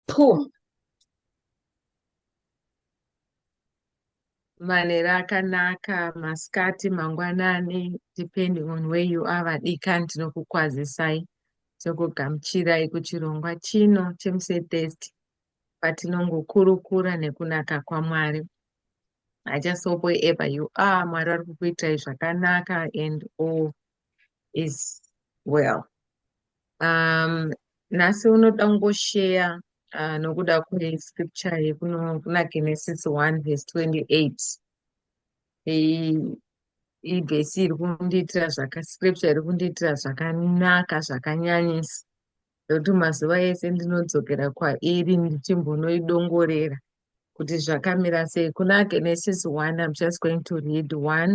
Pum. manera akanaka masikati mangwanani depending on where you are vadikani tinokukwazisai tokugamuchirai kuchirongwa chino chemusetest patinongokurukura nekunaka kwamwari i just hope wherever you are mwari vari kukuitirai zvakanaka and all is well um nhasi unoda kungosheya uh, nokuda kwescripture yekuno kuna genesis 1 vhesi 28 ibhesi iri kundiitira zvaka scripture iri kundiitira zvakanaka zvakanyanyisa ndokuti mazuva ese ndinodzokera kwairi ndichimbonoidongorera kuti zvakamira sei kuna genesis one im just going to read one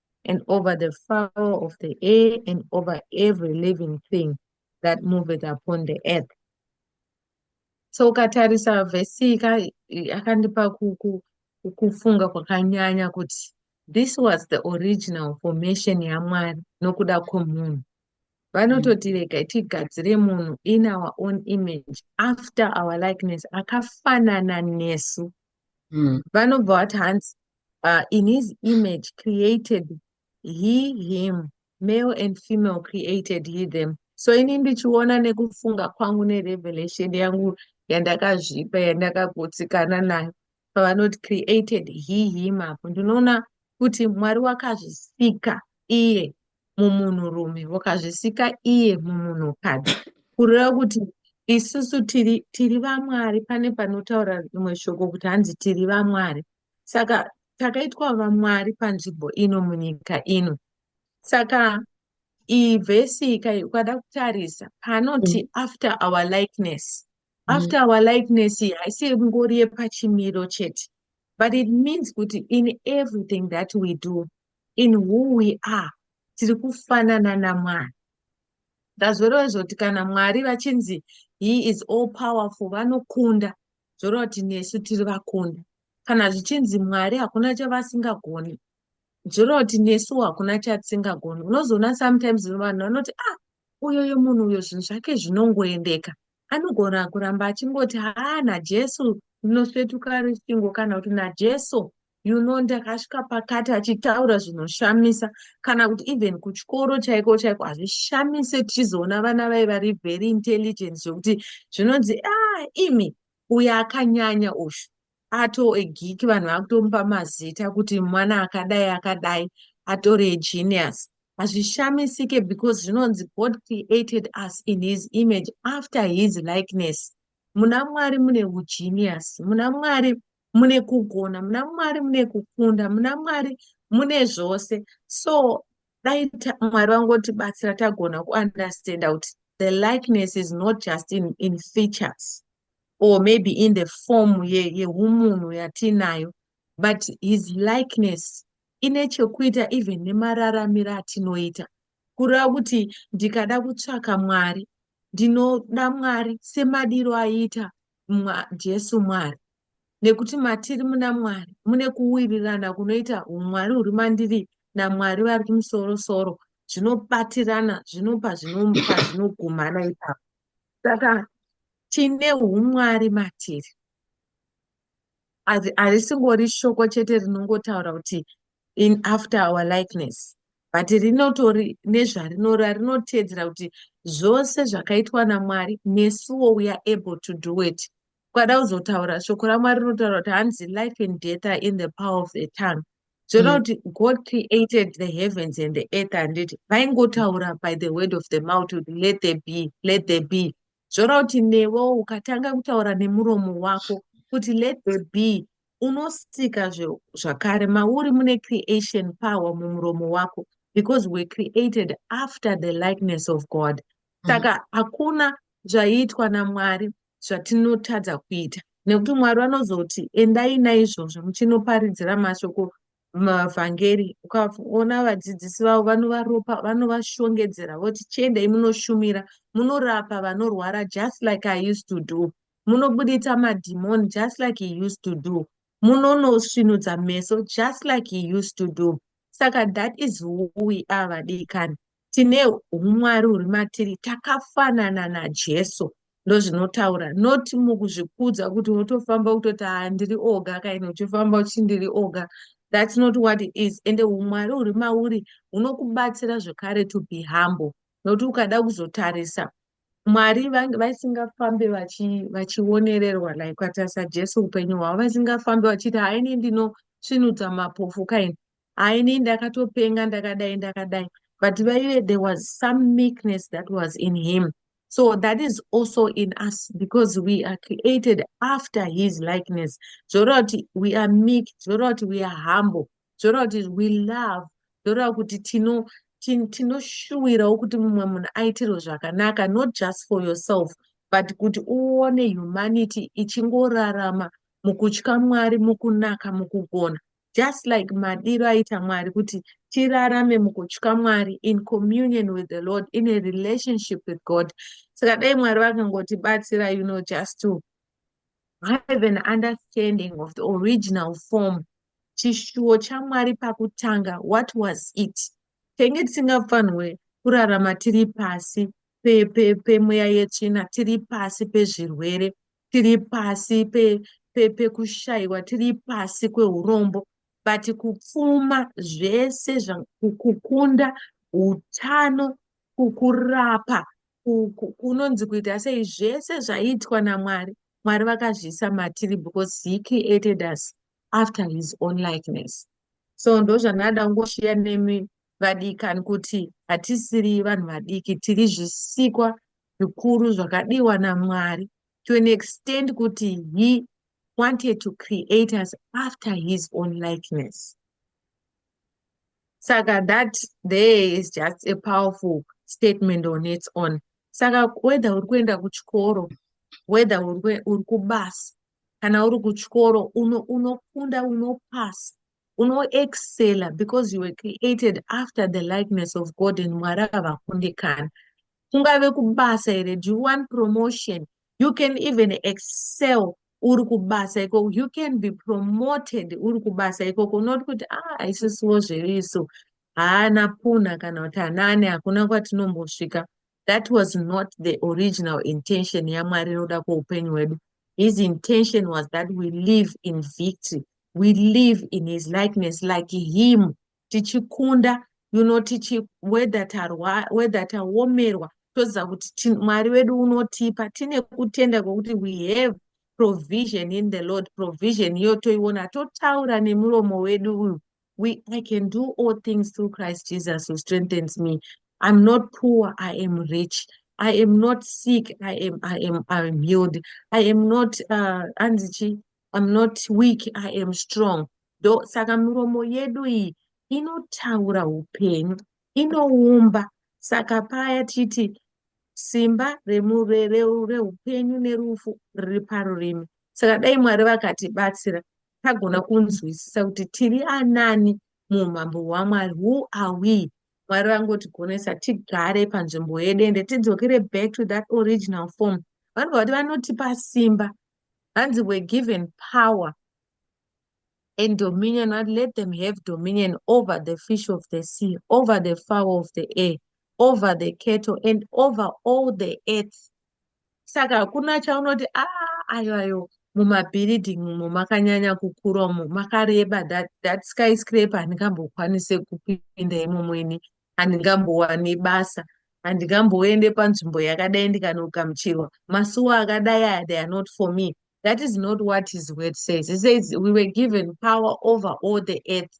and over the fowl of the air, and over every living thing that moveth upon the earth. So ukatarisa vhesi yakandipa kufunga kwakanyanya kuti this was the original formation yamwari nokuda kwomunhu vanototirega mm. tigadzire munhu in our own image after our likeness akafanana nesu mm. vanobva vati hanzi uh, in his image created he him male and female created he them so ini ndichiona nekufunga kwangu nerevelation yangu yandakazvipa yandakagutsikana nayo pavanoti created he him apo ndinoona kuti mwari wakazvisika iye mumunhurume vokazvisika iye mumunhukadzi kureva kuti isusu tiri tiri vamwari pane panotaura rimwe shoko kuti hanzi tiri vamwari saka takaitwa vamwari panzvimbo ino munyika ino saka iyi vhesi ikai ukada kutarisa panoti mm. after our likeness mm. after our likeness iyi haisi ngori yepachimiro chete but it means kuti in everything that we do in who we are tiri kufanana namwari ndazvoreva zvoti kana mwari vachinzi he is all powerful vanokunda zvoreva kuti nesu tiri vakunda kana zvichinzi mwari hakuna chavasingagoni zvoreva kuti nesu hakuna chatisingagoni unozoona sometimes vanhu vanoti ah uyoyo munhu uyo zvinhu zvake zvinongoendeka anogona kuramba achingoti haa najesu ndinosvetuka rusvingo kana kuti najesu you know ndakasvika pakati achitaura zvinoshamisa kana kuti even kuchikoro chaiko chaiko hazvishamise tichizoona vana vai vari very intelligent zvekuti zvinonzi a ah, imi uyo akanyanya ushu ato egiki vanhu vakutomupa mazita kuti mwana akadai akadai atore egenius hazvishamisike because zvinonzi god created us in his image after his likeness muna mwari mune ugenius muna mwari mune kugona muna mwari mune kukunda muna mwari mune zvose so dai mwari vangotibatsira tagona kuunderstanda kuti the likeness is not just in, in features or maybe in the form yehumunhu ye yatiinayo but his likeness ine chekuita even nemararamiro atinoita kureva kuti ndikada kutsvaka mwari Ndinoda Mwari semadiro aita mwa, Jesu Mwari. Nekuti matiri muna Mwari mune kuwirirana kunoita umwari huri mandiri naMwari vari kumusoro soro zvinobatirana zvinopa zvinomupa zvinogumana ipapo. Saka tine umwari matiri harisingori shoko chete rinongotaura kuti in after our likeness but rinotori nezvarinora rinoteedzera kuti zvose zvakaitwa namwari nesuwo we are able to do it kwada kuzotaura shoko ramwari rinotaura kuti hanzi life and death are in the power of the tongue zvoda mm. kuti mm. god created the heavens and the earth handiti vaingotaura by the word of the mouth kuti let there be let there be Zvoreva kuti newe ukatanga kutaura nemuromo wako kuti let there be unosika zve- zvakare mauri mune creation power mumuromo wako because we're created after the likeness of god saka hakuna zvaiitwa namwari zvatinotadza kuita nekuti mwari vanozoti endai naizvozvo muchinoparidzira mashoko mumavhangeri ukaona vadzidzisi vavo vanovaropa vanovashongedzera voti chiendai munoshumira munorapa vanorwara just like i used to do munobuditsa madhimoni just like he used to do munonosvinudza meso just like he used to do saka that is who we are vadikani tine humwari huri matiri takafanana najesu ndozvinotaura not mukuzvikudza kuti wotofamba kutoti haa ndiri oga kaini uchifamba uchi ndiri oga thats not what it is ende humwari huri mauri hunokubatsira zvekare to be humble nokuti ukada kuzotarisa mwari vasingafambe vachionererwa vachi like kwatarisa jesu upenyu hwavo vasingafambe vachiti haini ndinosvinudza mapofu kaini haa ini ndakatopenga ndakadai ndakadai but vaive there was some meekness that was in him so that is also in us because we are created after his likeness zvoreva kuti we are meek zvoreva kuti we are humble zvoreva kuti we love zvoreva kuti tino tinoshuwirawo kuti mumwe munhu aitirwe zvakanaka not just for yourself but kuti uone humanity ichingorarama mukutya mwari mukunaka mukugona just like madiro aita mwari kuti tirarame mukutya mwari in communion with the lord in a relationship with god saka dai mwari vakangotibatsira you know just to have an understanding of the original form chishuwo chamwari pakutanga what was it tenge tisingafanirwe kurarama tiri pasi pemweya yetsvina tiri pasi pezvirwere tiri pasi pekushaiwa pe, pe tiri pasi kweurombo but kupfuma zvese kukunda utano kukurapa kunonzi kuita sei zvese zvaitwa namwari mwari vakazviisa matiri because he created us after his own likeness so ndozvandada kungoshiya nemi vadikani kuti hatisiri vanhu vadiki tiri zvisikwa zvikuru zvakadiwa namwari to an extent kuti he wanted to create us after his own likeness saka that there is just a powerful statement on its own saka whether uri kuenda kuchikoro whether uri kubasa kana uri kuchikoro unofunda uno unopasa unoexceller because you were created after the likeness of god and mwari havakundikana kungave kubasa here do you want promotion you can even excel uri kubasa ikoko you can be promoted uri kubasa ikoko unoti kuti ah isisiwo zveiso haana puna kana kuti hanaane hakuna kwatinombosvika that was not the original intention yamwari inoda kweupenyu hwedu his intention was that we live in victory we live in his likeness like him tichikunda you know tichi whether tarwa whether taomerwa toziva kuti mwari wedu unotipa tine kutenda kwekuti we have provision in the lord provision iyo toiona totaura nemuromo wedu uyu we i can do all things through christ jesus who strengthens me i'm not poor i am rich i am not sick i am i am i am healed i am not uh, anzichi i'm not weak i am strong do saka miromo yedu iyi inotaura upenyu inoumba saka paya titi simba remureureupenyu nerufu riri parurimi saka dai mwari vakatibatsira tagona kunzwisisa kuti tiri anani muumambo hwamwari who are we mwari vangotigonesa tigare panzvimbo yedu ende tidzokere back to that original form vanobva kuti vanotipa simba hanzi were given power and dominion what let them have dominion over the fish of the sea over the fowl of the air over the cattle and over all the earth saka hakuna chaunoti a ah, ayo ayo mumabuilding umo makanyanya kukura umo makareba that, that sky scrape handingambokwanise kupinda imomo ini handingambowani basa handingamboende panzvimbo yakadai ndikanogamuchirwa masuwa akadai aya they are not for me that is not what his word says he says we were given power over all the earth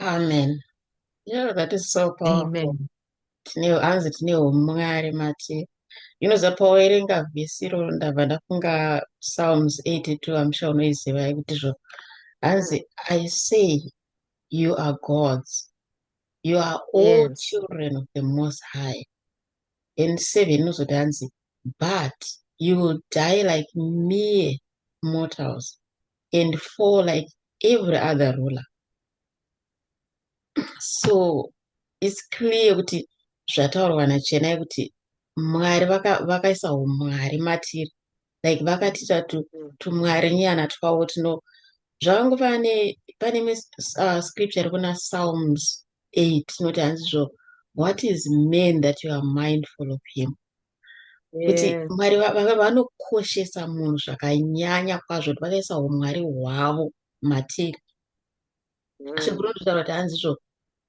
Amen. Yeah, that is so powerful. Amen. Tine hanzi tine umwari mati. Unoziva pawaverenga vhesi iroro ndabva ndafunga Psalms 82 I'm sure unoiziva yekuti zvo. Hanzi I say you are gods. You are all Yes. children of the Most High. And seven inozoti hanzi but you will die like mere mortals. and fall like every other ruler so its clear kuti zvataurwa nachena yekuti mwari vakaisa vaka umwari matiri like vakatiita tumwari tu nyana twavo tuno zvakango pane pane uh, scripture iri kuna psalms 8 inoti hanzi zvo what is man that you are mindful of him kuti yes. mwari vanokoshesa munhu zvakanyanya kwazvo kuti vakaisa umwari hwavo matiri mm. sekuru nditaura kuti hanzizvo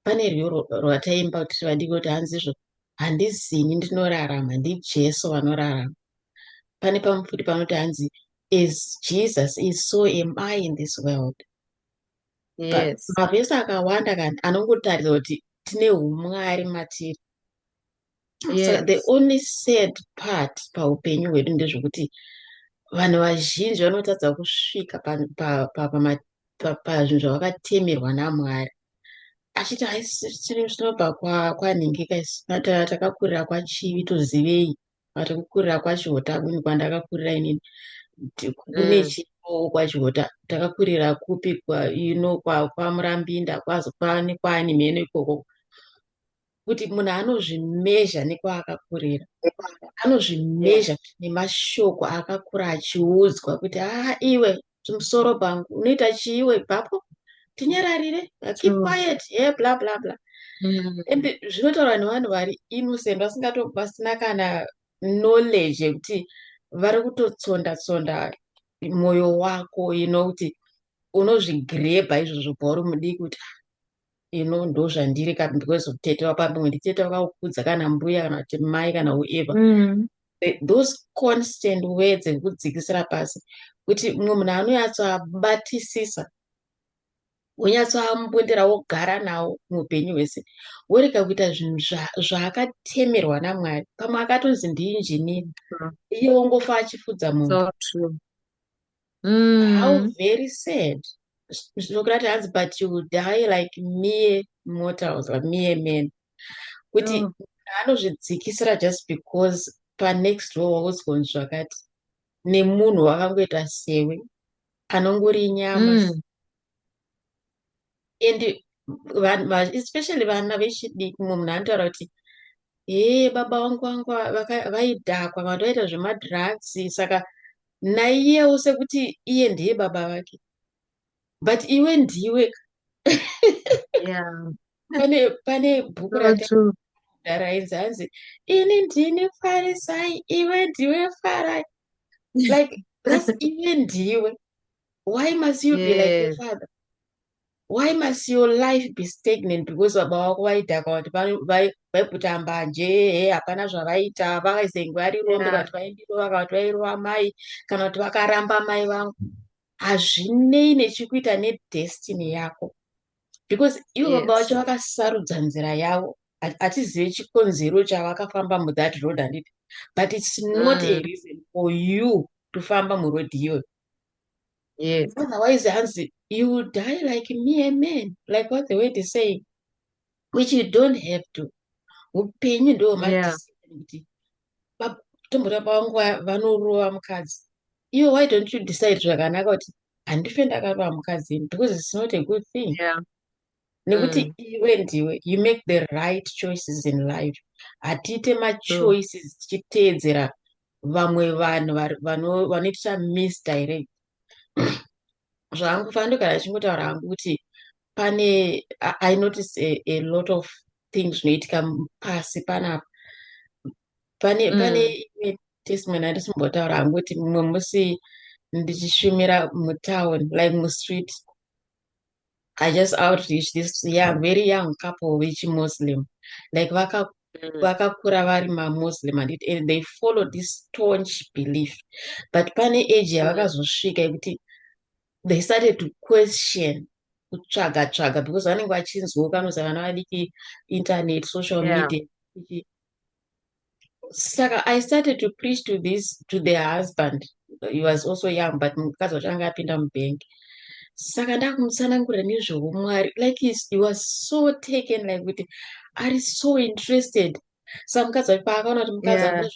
pane rwiyo rwataimba kuti vadiki kuti hanzizvo handizini ndinorarama ndijesu vanorarama pane pamwe futi panoti hanzi is jesus is so am i in this world yes. mavhesi akawanda kani anongotaridza kuti tine umwari matiri yes. so the only sad part paupenyu hwedu ndezvekuti vanhu vazhinji vanotadza kusvika pazvinhu pa, pa, pa, pa, pa, zvavakatemerwa namwari achiti haisitiri zvinobva kwanhingika isu takakurira kwachivi tozivei vati kukurira kwachihota kuni kwandakakurira inini kune mm. chipoo kwachihota takakurira kupi ino kwamurambinda kwaani mheno ikoko kuti munhu anozvimezha nekwaakakurira anozvimezha nemashoko aakakura achiudzwa kuti aa iwe chimusoro pangu unoita chiiwe ipapo tinyararire keep mm. quiet ye yeah, bla bla bla mm. and zvinotaurwa nevanhu vari innocent vasingato vasina kana knowledge yekuti vari kutotsonda tsonda mwoyo wako you know kuti unozvigrebha izvozvo bhauri mudiki kuti ah, ino ndozvandiri ka because tete wapamwe nditete wakaukudza kana mbuya kana kuti mai kana ueva mm. those constant words ekudzikisira pasi kuti mumwe munhu anonyatsoabatisisa wonyatsoambundira wogara nawo muupenyu hwese worega kuita zvinhu zvaakatemerwa namwari pamwe akatonzi ndiinjinini mm. iye wongofa achifudza munhu so mm. how very sad zvokurati hanzi but you will die like mere mortals like mere men kuti mm. anozvidzikisira just because panext door wauzgonzi zvakati nemunhu wakangoita sewe anongori nyama mm. and especially vana vechidiki mumwe munhu anotaura kuti hee baba vangu vangu vaidhakwa vanhu vaita zvemadrugs saka naiyewo sekuti iye ndiye baba vake but iwe ndiwe pane pane bhuku rakarainzi hanzi ini ndini farisai iwe ndiwe farai like thats iwe ndiwe why must you yes. be like your father why must your life be stagnant because baba vako vaidhaka vati vaiputa mbanje he hapana zvavaita vakaisenge varirombe kana kuti vaindirova kana kuti vairova mai kana kuti vakaramba mai vangu hazvinei nechikuita nedestiny yako because ivo baba vacho vakasarudza nzira yavo hatizive chikonzero chavakafamba muthat road handiti but its not a mm. reason for you tofamba muroad iyoyo yes otherwise hanzi you will die like me a man like what the word is saying which you don't have to upenyu ndo yeah. kuti tomboda pavangu vanorova mukadzi iwe why don't you decide zvakanaka kuti handife ndakarova mukadzi ini because it's not a good thing yeah. nekuti mm. iwe ndiwe you make the right choices in life hatiite machoices tichiteedzera vamwe vanhu vanoitisa misdirect zvangu fando kana achingotaura hangu kuti pane i notice a, a lot of things zvinoitika pasi panapa pane mm. pane imwe testimony andisimbotaura hangu kuti mumwe musi ndichishumira mutown like mustreet I just outreach this young, very young couple which Muslim. Like vaka mm. vakakura vari mamuslim and, and they follow this staunch belief but pane age mm. yavakazosvika yekuti they started to question kutsvaga tsvaga because vanenge vachinzwa kanoza vana vadiki internet social yeah. media saka i started to preach to this to the husband he was also young but mukadzi wacho anga apinda mubank saka ndakumutsanangurira nezveumwari like he was so taken like kuti ari so interested sa mukadzi wacho paakaona kuti mukadzi yeah.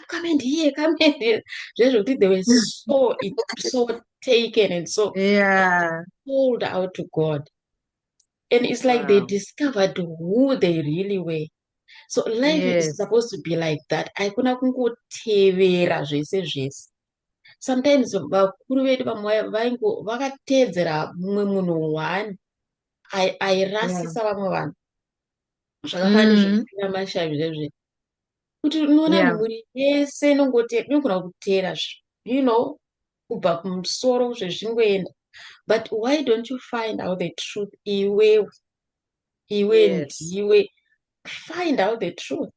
come and hear come and hear zvezvekuti they were so so taken and so yeah. sold out to god and it's like wow. they discovered who they really were so life yes. is supposed to be like that haikuna kungotevera zvese zvese sometimes vakuru vedu vamwe vaingo vakateedzera mumwe munhu one airasisa vamwe vanhu zvakafani mm. zvekuina mashavi zvezve kuti unoona mhuri yese inongoti inogona kuteera you know kubva kumusoro zvezvingoenda but why don't you find out the truth iwewe iwe ndiwe yes. find out the truth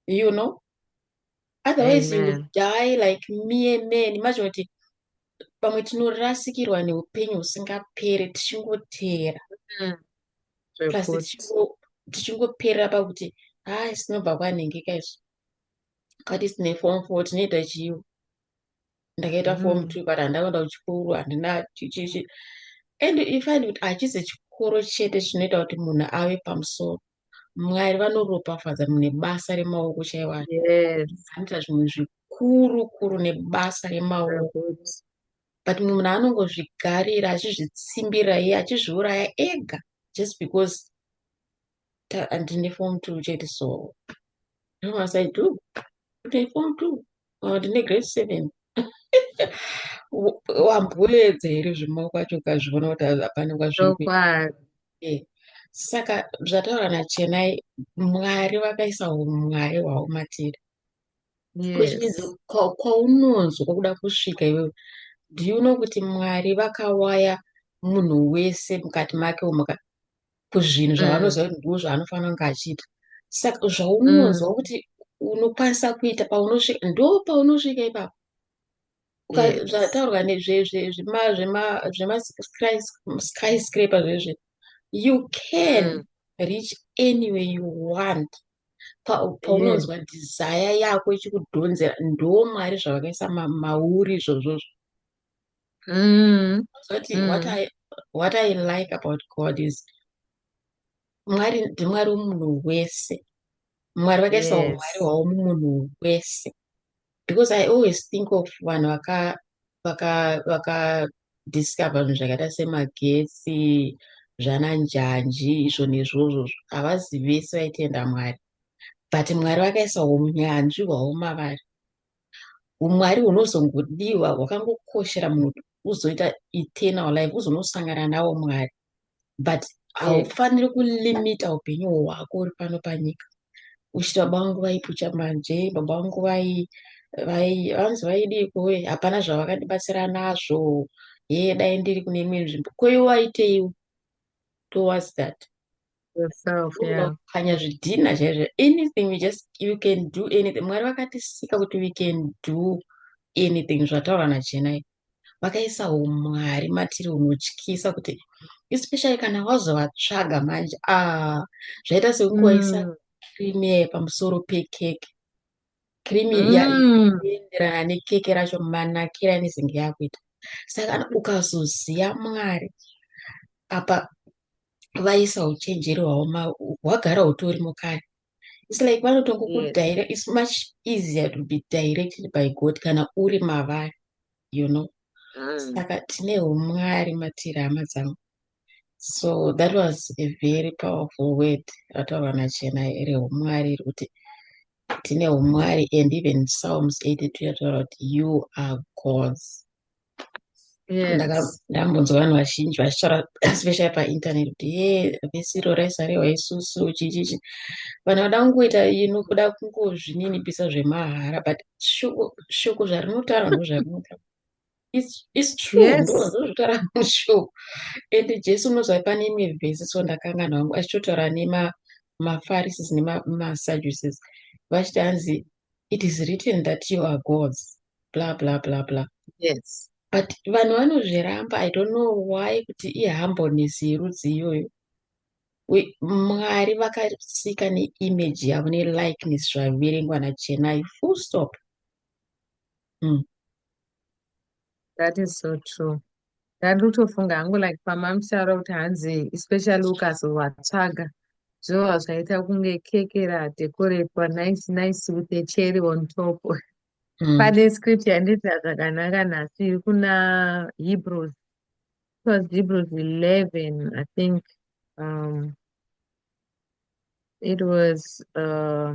you know otherwise Amen. you will die like mere man imagine kuti pamwe tinorasikirwa neupenyu husingapere tichingoteera mm. plus tichingoperera pakuti haa sinobva kwanhengeka izvo kati sine form four tinoita chiyo ndakaita mm. form two but handakuenda kuchikoro handina chichichi and ifind kuti hachizi chikoro chete chinoita kuti munhu ave pamusoro mwari vanoropafadza nebasa remaoko chaiwo anoita zvimwe zvikuru kuru nebasa remaoko but mumwe munhu anongozvigarira achizvitsimbira iye achizviuraya ega just because ndine form two chete so no as i do ndine form two or ndine grade seven wamboedza here zvemaoko acho ukazviona kuti hapana kwazviri eh, saka zvataura nachenai mwari vakaisa umwari hwavo matiri kwaunonzwa kwakuda kusvika iwewe do you know kuti mwari vakawaya munhu wese mukati make umu kuzvinhu zvaanoziva kuti ndizvo zvaanofanira kunge achiita saka zvaunonzwa mm. kuti unokwanisa kuita paunosvika ndo paunosvika ipapo zvataurwa nezvemasky scraper zvezve you can mm. reach anyway you want paunonzwa pa desire yako ichikudhonzera ndo mwari zvavakaisa mauri izvozvozvo mm. zoti mm. what, I, what i like about god is mwari ndimwari womunhu wese mwari vakaisa yes. umwari hwavo mumunhu wese because i always think of vanhu vaka vaka vaka discover zvinhu zvakaita semagetsi zvana njanji izvo nezvozvo havazi vese vaitenda mwari but mwari vakaisa unyanzvi hwavo mavari umwari hunozongodiwa hwakangokoshera munhu uzoita eternal life uzonosangana nawo mwari but haufaniri kulimita upenyu hwako uri pano panyika uchiti baba vangu vaipucha manje baba vangu vai vanzi vaidii kuwe hapana zvavakatibatsira nazvo hee dai ndiri kune imwe nzvimbo koiwaiteiwo towards that yourself yeah kanya zvidhina chaizvo anything you just you can do anything mwari vakatisika kuti we can do anything zvataura nachenai vakaisa umwari matiri unotyisa kuti especially kana wazovatsvaga manje a ah, zvaita sekukuwaisa mm. creamie pamusoro pekeke creamie mm. yaenderana nekeke racho manakira anezenge yakuita saka ukazoziva mwari apa vaisa uchenjeri hwaoma hwagara hutori mukati its like vanotongokudirect its much easier to be directed by god kana uri mavari you know mm. saka tine umwari matiri hama dzangu so that was a very powerful word rataurwa nachena reumwari iri kuti tine umwari and even psalms 82 yataura kuti you are gods ndakambonzwa vanhu vazhinji vachitaura especially painternet kuti ye vhesi iro raisarewa isusu chichichi vanhu vada kungoita ino kuda kungozvininipisa zvemahara but shoko zvarinotaura ndozvarinotaura its true ndozvinotaura mushoko and jesu unozva pane imwe vhesi so ndakangana wangu achitotaura nemafarisis nemasaduces vachiti hanzi it is written that you are gods bla bla bla bla yes but vanhu vanozviramba i don't know why kuti ihambones yerudzi iyoyo mwari vakasika neimage yavo nelikeness zvaverengwa nachenai full stop mm. That is so true. Ndari kutofunga hangu like pamamutaura kuti hanzi especially ukazovatsvaga zvova zvaita kunge keke radekoretwa nice nice with a cherry on top. Mm. Pane script yandidza zvakanaka nhasi iri kuna Hebrews. It was Hebrews 11, I think. Um, it was uh,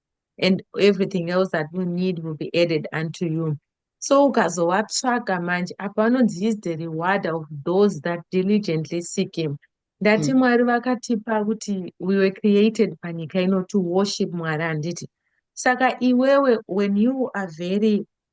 and everything else that you need will be added unto you so ukazovatsvaga manje apa vanonzi is the reward of those that diligently seek him ndati mm. mwari vakatipa kuti we were created panyika ino to worship mwari handiti saka iwewe when you are very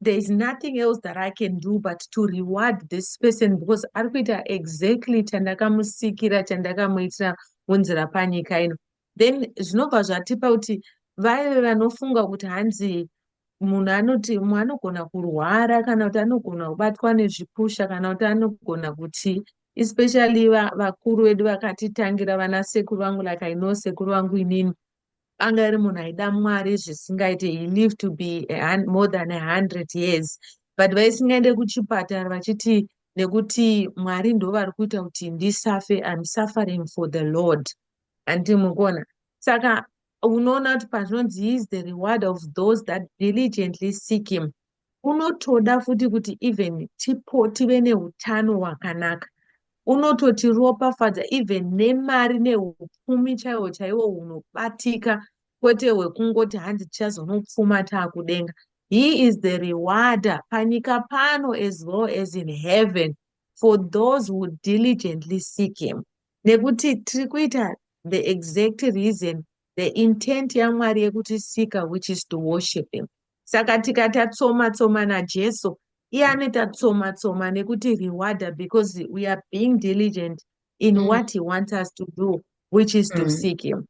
there is nothing else that i can do but to reward this person because ari kuita exactly chandakamusikira chandakamuitira munzira panyika ino then zvinobva zvatipa kuti vaive vanofunga kuti hanzi munhu anoti mumwe anogona kurwara kana kuti anogona kubatwa nezvipusha kana kuti anogona kuti especially vakuru vedu vakatitangira vana sekuru vangu like i know sekuru vangu inini anga iri munhu aida mwari zvisingaite he lived to be more than a hundred years but vaisingaende kuchipatara vachiti nekuti mwari ndo vari kuita kuti ndisafe im suffering for the lord handii mukuona saka unoona kuti pazvinonzi he is the reward of those that diligently seek him unotoda futi kuti even tipo tive neutano hwakanaka unototiropafadza even nemari neupfumi chaiwo chaiwo hunobatika kwete hwekungoti hanzi tichazonopfuma taakudenga he is the rewarder panyika pano as well as in heaven for those who diligently seek him nekuti tiri kuita the exact reason the intent yamwari yekutisika which is to worship him Saka tika tatsoma tsoma na Jesu iye anoita tsoma tsoma nekuti rewarder because we are being diligent in mm. what he wants us to do which is mm. to seek him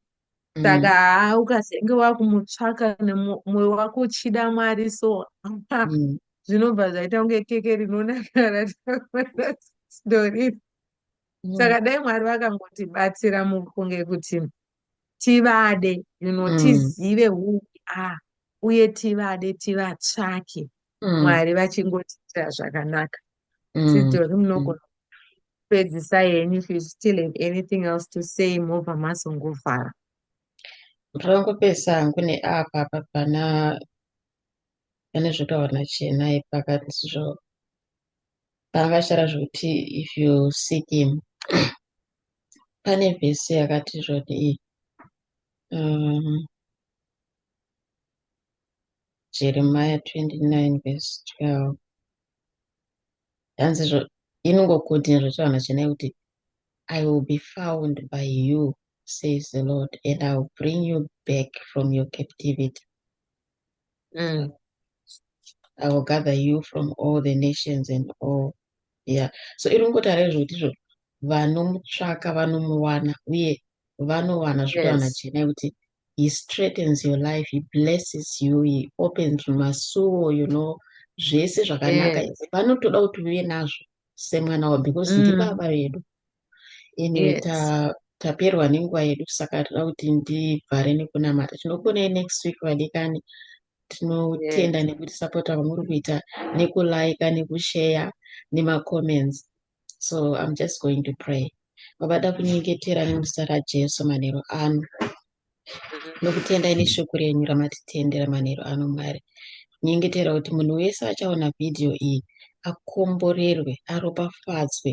mm. saka haa ukazenge wakumutsvaka nemwoyo wako uchida mwari so mm. zvinobva zvaita kunge keke rinonakara stori mm. saka dai mwari vakangotibatsira mukunge kuti tivade you know mm. tizive who we are uye tivade tivatsvake mm. mwari vachingotiitira zvakanaka mm. sidori munogona kupedzisa henyu if you still have anything else to say mobva masongovhara ndongopesa hangu neapa apa pana pane zvotaura nachenai pakati zvo Pavashara zvokuti if you seek him pane vhesi yakati zvoti um, jeremiah 29 vhesi 12 hanzi zvo inongokutin zvotaura chena kuti i will be found by you says the lord and i will bring you back from your captivity Mm. I will gather you from all the nations and all. Yeah. So iri kungotaura izvoti izvo vanomutsvaka vanomuwana uye vanowana zvekuwana yes. chena kuti he straightens your life he blesses you he opens masuo you know zvese zvakanaka yes. vanotoda kuti uve nazvo semwana wavo because mm. ndibaba vedu anyway yes. ta taperwa nenguva yedu saka toda kuti ndivhare nekunamata tinokuonai next week vadikani tinotenda yes. nekutisapota kwamuri kuita nekulaika nekusheya nemacomments so im just going to pray vabada kunyengetera nemuzita rajesu manheru ano mm-hmm. nokutenda ine shoko renyu ramatitendera manheru ano mwari nyengetera kuti munhu wese achaona vhidhiyo iyi akomborerwe aropafadzwe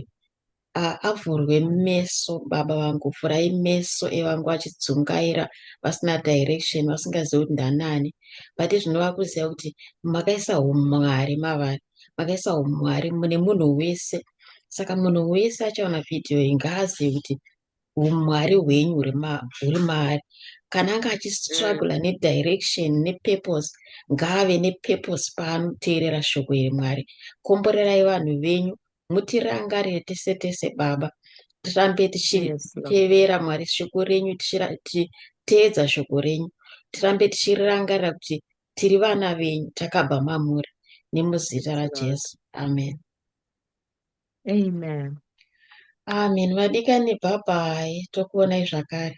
Ah, avhurwe meso baba vangu vhurai meso evangu vachidzungaira vasina direction vasingazivi kuti ndanani but zvinova kuziva kuti makaisa umwari mavari makaisa umwari mune munhu wese saka munhu wese achaona vhidhiyo iyi ngaazive kuti umwari hwenyu huri maari kana anga achistrugula mm. nedirection nepurpose ngaave nepurpose paanoteerera shoko iri mwari komborerai vanhu venyu mutirangarire tese tese baba tirambe tichitevera mwari shoko renyu tichiteedza shoko renyu tirambe tichirirangarira kuti tiri vana venyu takabva mamuri nemuzita rajesu amen amen amen vadikani bhabhai tokuonai zvakare